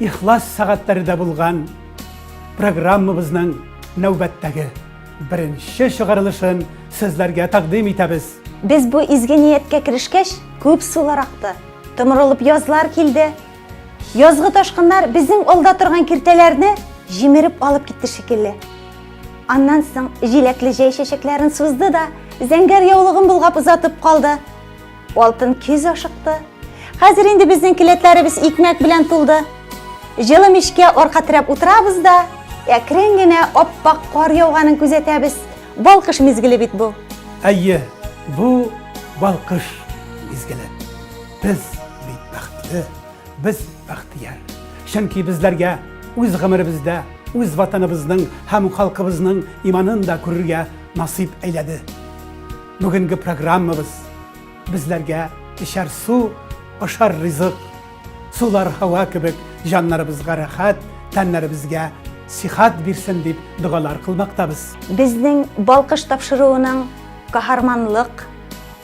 Ихлас сәгатьләре дә булган программабызның нәүбәттәге беренче чыгарылышын сезләргә тәкъдим итәбез. Без бу изге нияткә керешкәч, күп сулар акты, томырылып язлар килде. Язгы ташкыннар безнең алда торган киртәләрне җимереп алып китте шикелле. Аннан соң җиләкле җәй чәчәкләрен сузды да, зәңгәр яулыгын болгап озатып калды. Алтын көз ашыкты. Хәзер инде безнең келәтләребез икмәк белән тулды. Җылы мичкә арка терәп утырабыз да, әкрен генә аппак кар яуганын күзәтәбез. Балкыш мизгеле бит бу. Әйе, бу балкыш мизгеле. Без бит бәхетле, без бәхтияр. Чөнки безләргә үз гомеребездә үз ватаныбызның һәм халкыбызның иманын да күрергә насыйп әйләде. Бүгенге программабыз безләргә эчәр су, ашар ризык, сулар һава кебек җаннарыбызга рәхәт, тәннәребезгә сихат бирсен дип догалар кылмактабыз. Безнең балкыш тапшыруының каһарманлык,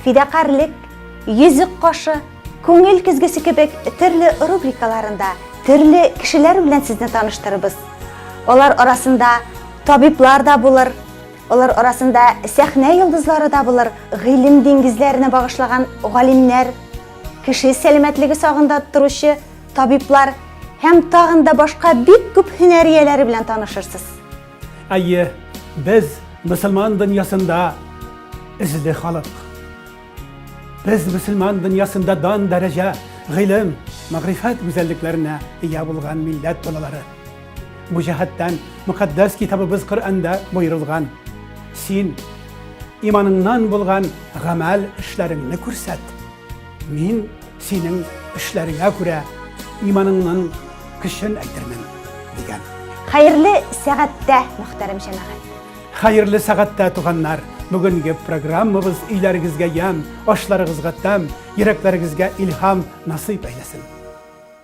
фидакарлык, йөзек кашы, күңел көзгесе кебек төрле рубрикаларында төрле кешеләр белән сезне таныштырыбыз. Алар арасында табиблар да булыр, Алар арасында сәхнә йолдызлары да булыр, гыйлем диңгезләренә багышлаган галимнәр, кеше сәламәтлеге сагында торучы табиблар һәм тагын да башка бик күп һөнәр ияләре белән танышырсыз. Әйе, без мөселман дөньясында эзле халык. Без мөселман дөньясында дан дәрәҗә, гыйлем, мәгърифәт гүзәллекләренә ия булган милләт балалары. Бу җәһәттән мөкатдәс китабыбыз Коръәндә боерылган. Син иманыңнан булган гамәл эшләреңне күрсәт. Мин синең эшләреңә күрә иманыңның көчен әйтермен, дигән. Хәерле сәгатьтә, мөхтәрәм җәмәгать. Хәерле сәгатьтә, туганнар. Бүгенге программабыз өйләрегезгә ямь, ашларыгызга тәм, йөрәкләрегезгә илһам насыйп әйләсен.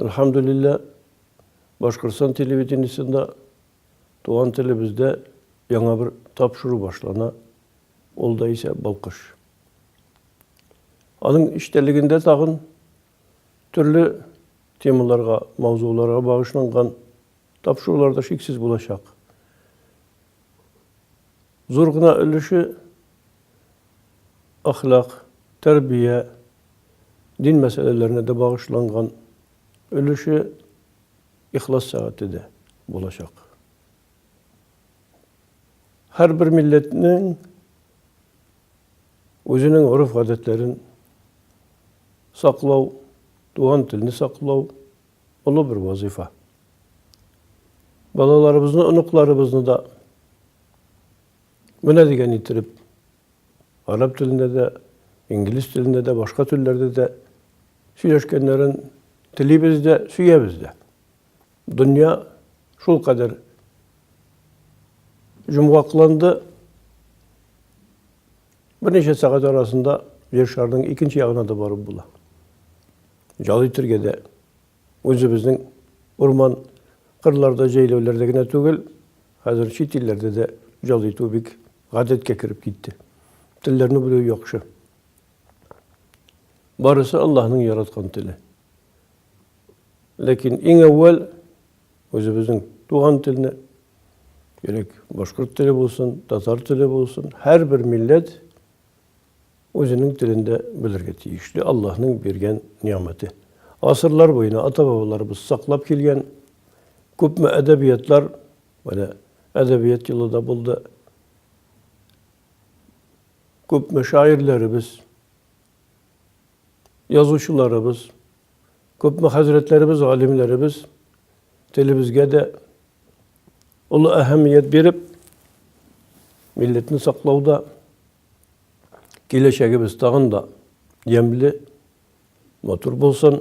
Әлхәмдүлиллә, Башкортстан телевидениесендә туган телебездә яңа бер тапшыру башлана, ул да исә Балкыш. Аның эчтәлегендә тагын төрле темаларга, мавзуларга багышланган Тапшырулар да шиксез булачак. Зур гына өлеше әхлак, тәрбия, дин мәсьәләләренә дә багышланган, өлеше ихлас сәгате дә булачак. Һәрбер милләтнең үзенең гореф-гадәтләрен саклау, туган телне саклау, олы бер вазыйфа. Балаларыбызны, оныкларыбызны да менә дигән иттереп араб телендә дә, инглиз телендә дә, башка телләрдә дә сөйләшкәннәрен телибез дә, сөябез дә. Дөнья шул кадәр җомгакланды. Берничә сәгать арасында Җир шарының икенче ягына да барып була. Ял итергә дә үзебезнең урман кырларда, җәйләүләрдә генә түгел, хәзер чит илләрдә дә ял итү бик гадәткә кереп китте. Телләрне белү яхшы. Барысы Аллаһның яраткан теле. Ләкин иң әүвәл үзебезнең туган телне, Керек башкорт теле булсын, татар теле булсын, һәрбер милләт Үзенең телендә белергә тиешле Аллаһның биргән нигъмәте. Гасырлар буена ата-бабаларыбыз саклап килгән күпме әдәбиятлар, менә әдәбият елы да булды. Күпме шаирләребез, язучыларыбыз, күпме хәзрәтләребез, галимнәребез телебезгә дә олы әһәмият биреп, милләтне саклауда Киләчәгебез тагын да ямьле, матур булсын,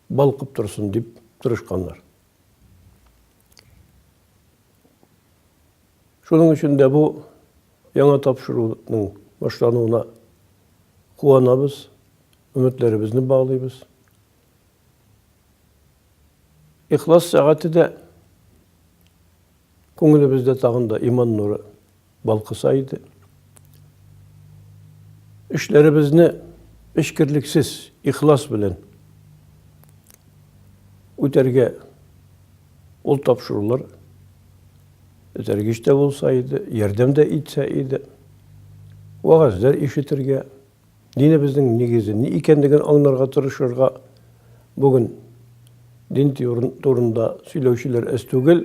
балкып торсын дип тырышканнар. Шуның өчен дә бу яңа тапшыруның башлануына куанабыз, өметләребезне баглыйбыз. Ихлас сәгате дә Күңелебездә тагын да иман нуры балкыса иде. Эшләребезне эчкерлексез, ихлас белән үтәргә ул тапшырулар этәргеч тә булса иде, ярдәм дә итсә иде, вәгазьләр ишетергә, Динебезнең нигезе ни икәнлеген аңнарга тырышырга бүген дин турында сөйләүчеләр әз түгел.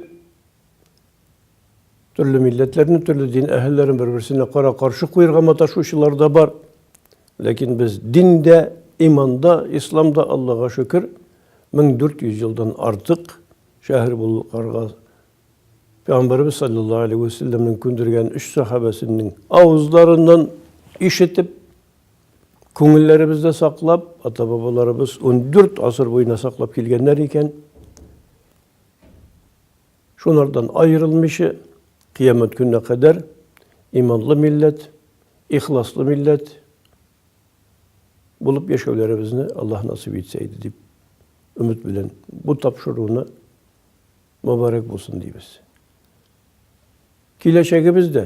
Төрле милләтләрне, төрле дин әһелләрен бер-берсенә кара-каршы куерга маташучылар да бар. Ләкин без диндә, иманда, исламда, Аллага шөкер, 1400 елдан артык шәһәр булып карга Пәйгамбәребез салләллаһу алейһи вә сәлләмнең күндергән өч сәхабәсенең авызларыннан ишетеп, күңелләребездә саклап, ата-бабаларыбыз 14 гасыр буена саклап килгәннәр икән. Шулардан аерылмыйча, кыямәт көненә кадәр иманлы милләт, ихласлы милләт булып яшәүләребезне Аллаһ насыйп итсә иде дип өмет белән бу тапшыруны Мөбарәк булсын дибез. Киләчәгебез дә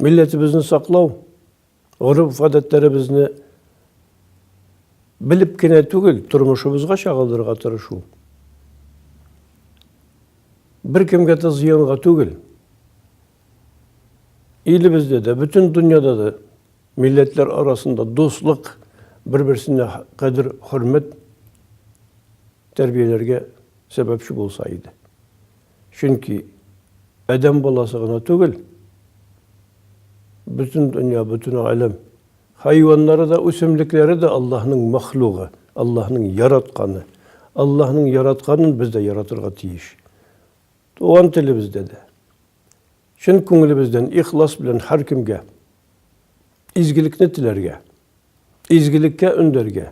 милләтебезне саклау, гореф-гадәтләребезне белеп кенә түгел, тормышыбызга чагылдырырга тырышу. Бер кемгә дә зыянга түгел. Илебездә дә, бөтен дөньяда да милләтләр арасында дуслык, бер-берсенә кадер, хөрмәт тәрбияләргә сәбәпче булса иде. Чөнки адәм баласы гына түгел, бөтен дөнья, бөтен галәм, хайваннары да, үсемлекләре дә Аллаһның мәхлугы, Аллаһның яратканы. Аллаһның яратканын без дә яратырга тиеш. Туган телебездә дә. Чын күңелебездән ихлас белән һәркемгә изгелекне теләргә, изгелеккә өндәргә,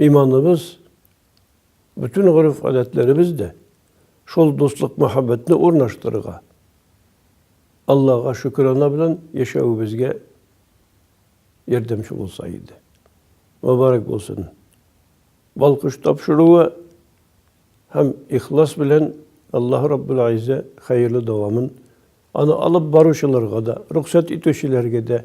Иманыбыз, бөтен гореф-гадәтләребез дә шул дуслык мәхәббәтне урнаштырырга, Аллага шөкерана белән яшәвебезгә ярдәмче булса иде. Мөбарәк булсын. Балкыш тапшыруы һәм ихлас белән Аллаһ Раббул Айзә хәерле дәвамын аны алып баручыларга да, рөхсәт итүчеләргә дә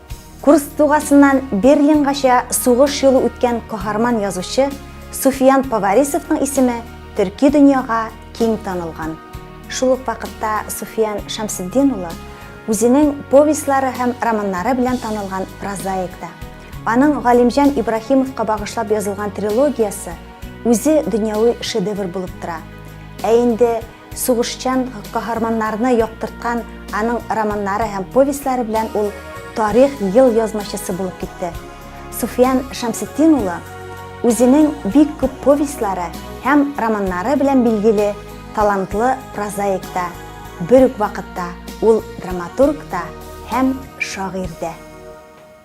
Курск дугасыннан Берлингача сугыш юлы үткән каһарман язучы Суфиян Поварисовның исеме төрки дөньяга киң танылган. Шул ук вакытта Суфиян Шәмсетдин улы үзенең повестьлары һәм романнары белән танылган прозаик та. Аның Галимҗан Ибраһимовка багышлап язылган трилогиясе үзе дөньяви шедевр булып тора. Ә инде Сугышчан каһарманнарны яктырткан аның романнары һәм повестьлары белән ул тарих ел язмачысы булып китте. Суфиян Шәмсетдин улы үзенең бик күп повестьлары һәм романнары белән билгеле талантлы прозаик та, бер үк вакытта ул драматург та һәм шагыйрь дә.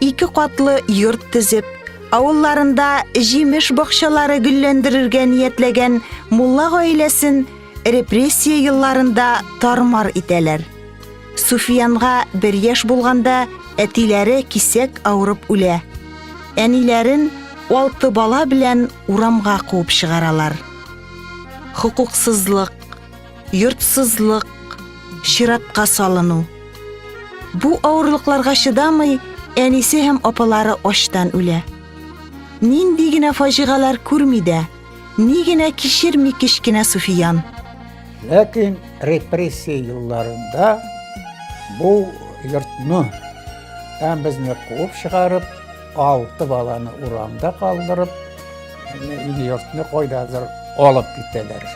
Ике катлы йорт төзеп, авылларында җимеш бакчалары гөлләндерергә ниятләгән мулла гаиләсен репрессия елларында тармар итәләр. Суфиянга бер яшь булганда әтиләре кисәк авырып үлә. Әниләрен алты бала белән урамга куып чыгаралар. Хокуксызлык, йортсызлык, чиратка салыну. Бу авырлыкларга чыдамый, әнисе һәм апалары ачтан үлә. Нинди генә фаҗигалар күрми дә, ни генә кичерми кечкенә Суфиян. Ләкин репрессия елларында бу йортны һәм безне куып чыгарып, Алты баланы урамда калдырып, ил-йортны кайдадыр алып китәләр.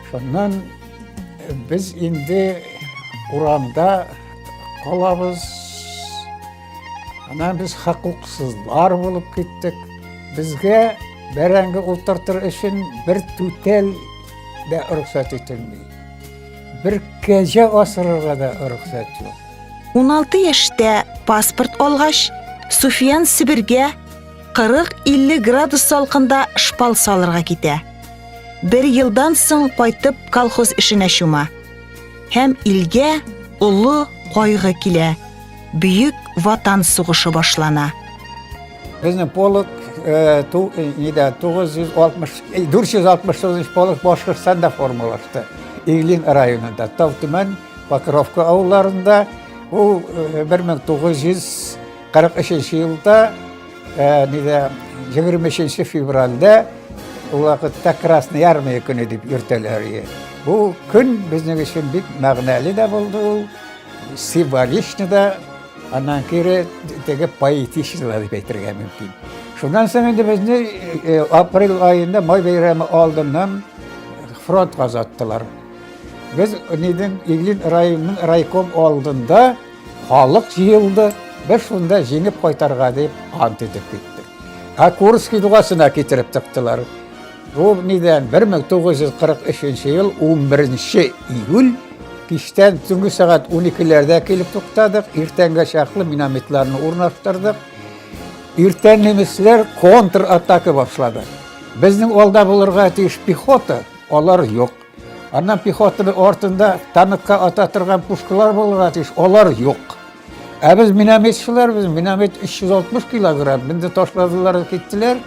Шуннан без инде урамда калабыз. Анан без хакуксызлар булып киттек. Безгә бәрәңге утыртыр өчен бер түтәл дә рөхсәт ителми. Бер кәҗә асырырга да рөхсәт юк. 16 яшьтә паспорт алгач, Суфиян Себергә 40-50 градус салкында шпал салырга китә. Бер елдан соң кайтып колхоз эшенә чума. Һәм илгә олы кайгы килә. Бөек ватан сугышы башлана. Безнең полк 469 полк Башкортстанда формалашты. Иглин районында, Тавтүмән Покровка авылларында ул 1943 елда нидә 23 февральдә ул вакытта Красный армия көне дип йөртәләр иде. Бу көн безнең өчен бик мәгънәле дә булды ул, символичны да, аннан кире теге поэтичны да дип әйтергә мөмкин. Шуннан соң инде безне э, апрель аенда май бәйрәме алдыннан фронт казаттылар. Без Ниден Иглин районының райком алдында халык җыелды, без шунда җиңеп кайтарга дип ант итеп киттек. Ә Курский дугасына китереп тыктылар. Бу нидән 1943 ел 11 июль кичтән төнге сәгать 12-ләрдә килеп туктадык, иртәнгә чаклы минометларны урнаштырдык. Иртән немецләр контратака башлады. Безнең алда булырга тиеш пехота, алар юк. Аннан пехотаны артында танкка ата торган пушкалар булырга тиеш, алар юк. Ә без минометчылар, без миномет 360 килограмм, бинде ташладылар, киттеләр.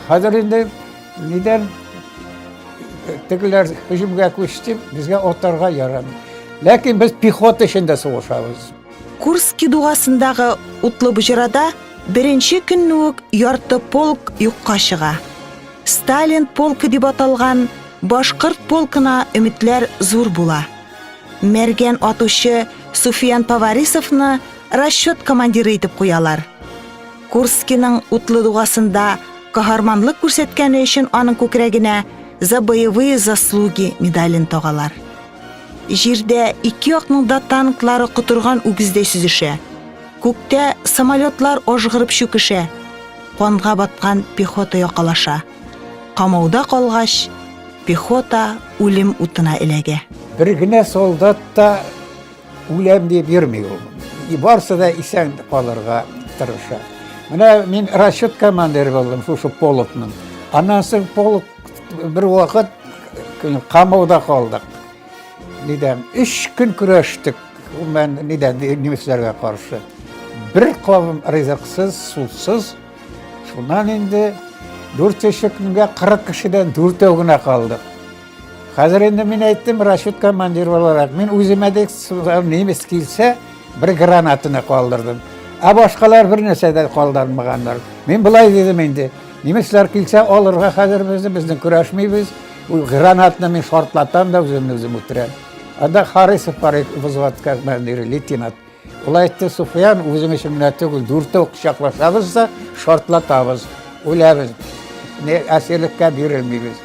Хәзер инде нидән тегеләр һөҗүмгә күчте, безгә атарга ярамый. Ләкин без пехота эчендә сугышабыз. Курски дугасындагы утлы боҗрада беренче көнне үк ярты полк юкка чыга. Сталин полкы дип аталган башкорт полкына өметләр зур була. Мәргән атучы Суфиян Поварисовны расчет командиры итеп куялар. Курскиның утлы дугасында каһарманлык күрсәткәне өчен аның күкрәгенә за боевые заслуги медален тагалар. Җирдә ике якның да танклары котырган үгездәй сүзешә. Күктә самолетлар ажгырып чүкешә, канга баткан пехота якалаша. Камауда калгач, пехота үлем утына эләгә. Бер генә солдат та үләм дип йөрми ул. И барсы да исән калырга тырыша. Менә мин расчет командиры булдым шушы полкның. Аннан соң полк бер вакыт камауда калдык. Нидән? Өч көн көрәштек. Ул мен нидән немецләргә каршы. Бер кавым ризыксыз, сусыз. Шуннан инде дүрт өче көнгә 40 кешедән дүртәү генә калдык. Хәзер инде мин әйттем, расчет командир буларак, мин үземә дә немец килсә, бер гранатаны калдырдым. Ә башкалар бер нәрсә дә калдырмаганнар. Мин былай дидем инде, немецлар килсә, алырга хәзер безне, безне көрәшмибез, Ул гранатны мин шартлатам да үземне үзем үтерәм. Анда Харисов бар иде, взводка командиры, лейтенант. Ул әйтте, Суфиян, үзең өчен генә түгел, дүртәү кочаклашабыз да шартлатабыз, үләбез. Не әсирлеккә бирелмибез.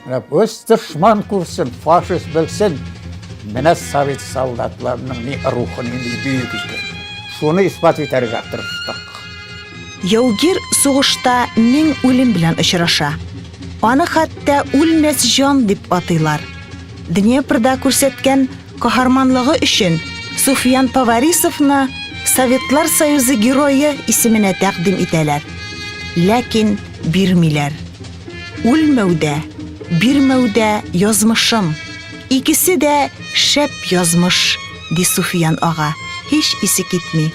Менә үз дошман күрсен, фашист белсен. Менә совет солдатларының ни рухы, ни бөек икән. Шуны исбат итәргә тырыштык. Яугир сугышта мең үлем белән очраша. Аны хәтта үлмәс җан дип атыйлар. Днепрда күрсәткән каһарманлыгы өчен Суфиян Поварисовны Советлар Союзы герое исеменә тәкъдим итәләр. Ләкин бирмиләр. Үлмәүдә, бирмәүдә язмышым. Икесе дә шәп язмыш, ди Суфиян ага, һич исе китми.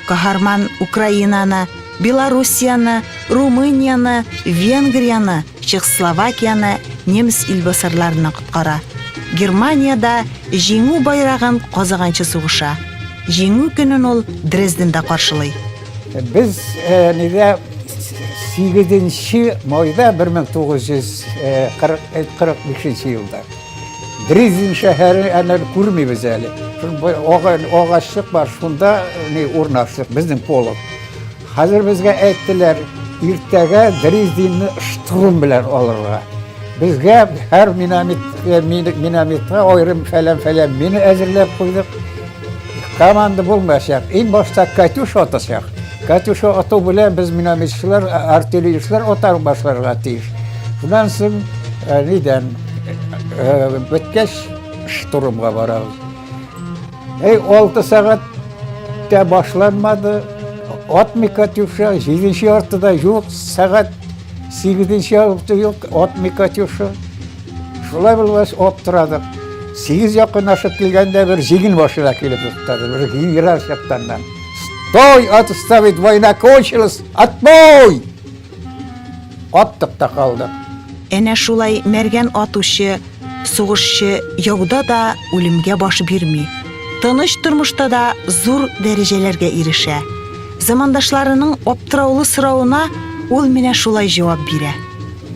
Каһарман Украинаны Белоруссияне, Румынияне, Венгрияне, Чехословакияне немец илбасарларыннан коткара. Германиядә Җиңү байрагын казыганчы сугыша. Җиңү көнен ул Дрезденда каршылый. Без нидә 8 нче майда 1945 елда. Дрезин шәһәре әнә күрмибез әле. Агачлык бар, шунда не урнаштык, безнең полок. Хәзер безгә әйттеләр, иртәгә Дрездинны штурм белән алырга. Безгә һәр минометка аерым фәлән-фәлән мина әзерләп куйдык. Команда булмаса, ин башта Катюш атасак. Катюш ату белән без минометчылар, артиллеристлар атар башларга тиеш. Шуннан соң э, нидән э, беткәч штурмга барабыз. Эй, 6 сәгать тә башланмады. Атмый Катюша, 7-нче артыда юк, сәгать 8-нче арты юк, атмый Катюша. Шулай булгач, аптырадык. Сигез якынлашып килгәндә бер җигел машина килеп туктады. Бер генерал чаптаннан. Стой, отставить, война кончилась, отбой! Аттык та калдык. Әнә шулай мәргән атучы, сугышчы яуда да үлемгә баш бирми. Тыныч тормышта да зур дәрәҗәләргә ирешә. Замандашларының аптыраулы соравына ул менә шулай җавап бирә.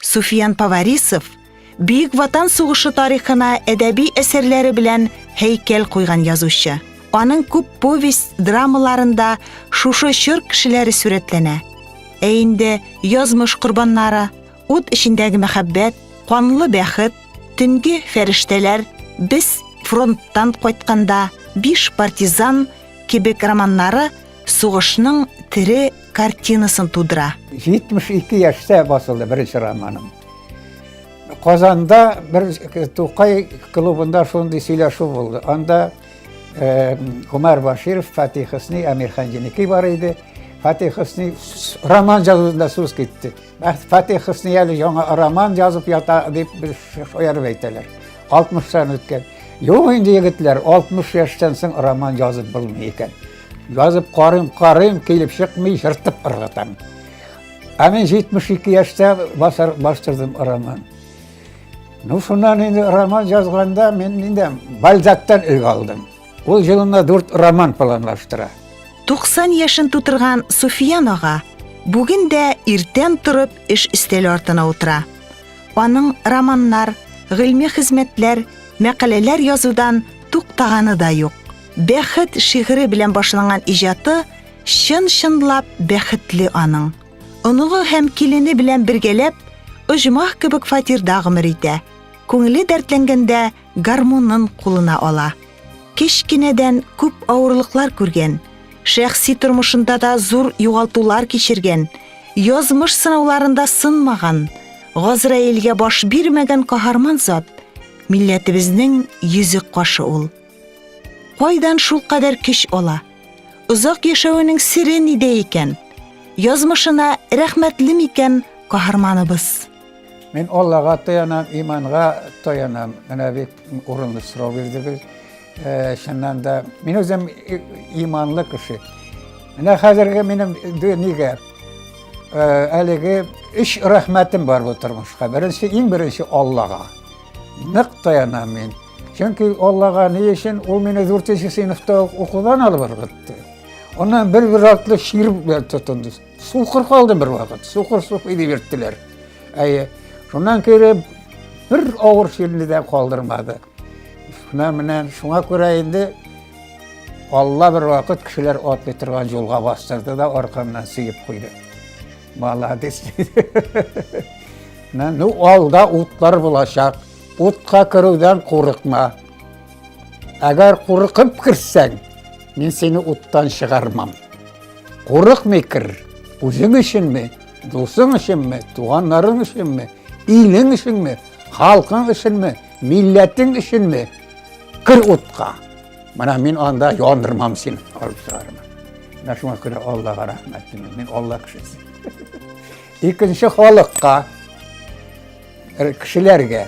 Суфиян Поварисов Бөек Ватан сугышы тарихына әдәби әсәрләре белән һәйкәл куйган язучы. Аның күп повесть драмаларында шушы чор кешеләре сурәтләнә. Ә инде язмыш корбаннары, ут эчендәге мәхәббәт, канлы бәхет, төнге фәрештәләр, без фронттан кайтканда, биш партизан кебек романнары сугышның тере картинасын тудыра. 72 яшьтә басылды беренче романым. Казанда бер Тукай клубында шундый сөйләшү булды. Анда Гомәр Баширов, Фатих Хөсни, Әмир Ханҗиники бар иде. Фатих Хөсни роман язуында сүз китте. Фатих Хөсни әле яңа роман язып ята дип бер шаярып әйтәләр. 60-тан үткән. Юк инде егетләр, 60 яшьтән соң роман язып булмый икән. Язып карыйм, карыйм, килеп чыкмый, ертып ыргытам. Ә мин 72 яшьтә басар бастырдым роман. Ну, шуннан инде роман язганда мин инде Бальзактан үлгә алдым. Ул җылына дүрт роман планлаштыра. 90 яшен тутырган Суфиян ага бүген дә иртән торып эш өстәле артына утыра. Аның романнар, гыйльми хезмәтләр, мәкаләләр язудан туктаганы да юк. Бәхет шигыре белән башланган иҗаты чын-чынлап бәхетле аның. Оныгы һәм килене белән бергәләп оҗмах кебек фатирда гомер итә. Күңеле дәртләнгәндә гармунын кулына ала. Кечкенәдән күп авырлыклар күргән, шәхси тормышында да зур югалтулар кичергән, язмыш сынауларында сынмаган, Газраилгә баш бирмәгән каһарман зат милләтебезнең йөзек кашы ул. Кайдан шулкадәр көч ала? Озак яшәвенең сере нидә икән? Язмышына рәхмәтле микән каһарманыбыз? Мин Аллага таянам, иманга таянам. Менә бик урынлы сорау бирдегез. Э, чыннан да, мин үзем иманлы кеше. Менә хәзерге минем нигә э, әлеге өч рәхмәтем бар бу тормышка. Беренче, иң беренче Аллага. Нык таянам мин. Чөнки Аллага ни өчен ул мине 4 сыйныфта укудан алып ыргытты. Аннан бер бер артлы шир белән тотынды. Сукыр калды бер вакыт. Сукыр суп иде берттеләр. Әйе. Шуннан кереп бер авыр ширне дә калдырмады. Шуна менә шуңа күрә инде Алла бер вакыт кешеләр атлый торган юлга бастырды да аркамнан сөеп куйды. Молодец. Менә ну алда утлар булачак. Утка керүдән курыкма. Әгәр курыкып керсәң, мин сине уттан чыгармам. Курыкмый кер, үзең өченме, дусың өченме, туганнарың өченме, илең өченме, халкың өченме, милләтең өченме, кер утка. Менә мин анда яндырмам сине, алып чыгармам. Менә шуңа күрә Аллага рәхмәт, мин Алла кешесе. Икенче халыкка Э, кешеләргә.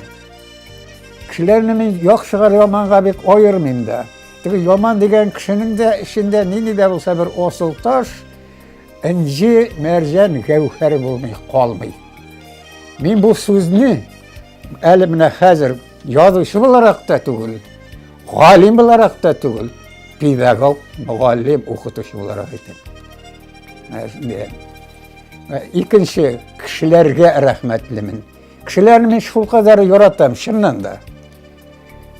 Кешеләрне мин яхшыга яманга бик аермыйм да. Теге яман дигән кешенең дә эчендә нинди дә булса бер асыл таш, инҗи, мәрҗән, гәүһәр булмый, калмый. Мин бу сүзне әле менә хәзер язучы буларак та түгел, галим буларак та түгел, педагог, мөгаллим, укытучы буларак әйтәм. Икенче кешеләргә рәхмәтлемен. Кешеләрне мин шулкадәр яратам, чыннан да.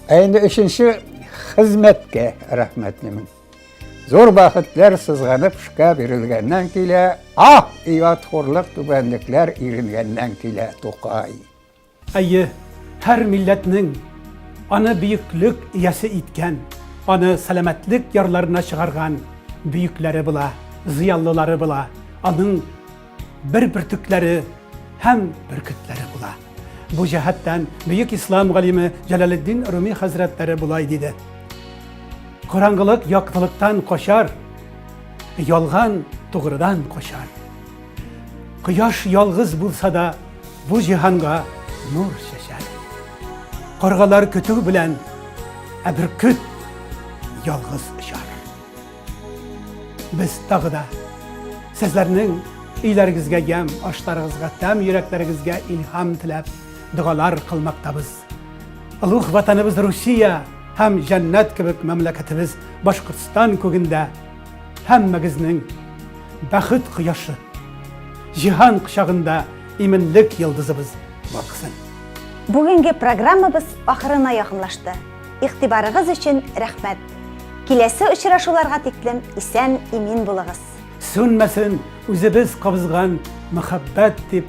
Ә инде өченче хезмәткә рәхмәтлемен. Зур бәхетләр сызганып эшкә бирелгәннән килә, ах, ият хурлык түбәнлекләр иренгәннән килә, Тукай. Әйе, һәр милләтнең аны бөеклек иясе иткән, аны сәламәтлек ярларына чыгарган бөекләре була, зыяллылары була, аның бер бөртекләре һәм бөркетләре була. Бу җәһәттән бөек ислам галиме Җәләлетдин Руми хәзрәтләре болай диде. Караңгылык яктылыктан качар, ялган тугрыдан качар. Кояш ялгыз булса да, бу җиһанга нур чәчәр. Каргалар көтү белән, ә бөркет ялгыз очар. Без тагы да сезләрнең өйләрегезгә ямь, ашларыгызга тәм, йөрәкләрегезгә илһам теләп, догалар кылмактабыз. Олуг ватаныбыз Русия һәм җәннәт кебек мәмләкәтебез Башкортстан күгендә Һәммәгезнең бәхет кояшы, җиһан кочагында иминлек йолдызыбыз балкысын. Бүгенге программабыз ахырына якынлашты. Игътибарыгыз өчен рәхмәт. Киләсе очрашуларга тиклем исән, имин булыгыз. Сүнмәсен үзебез кабызган мәхәббәт дип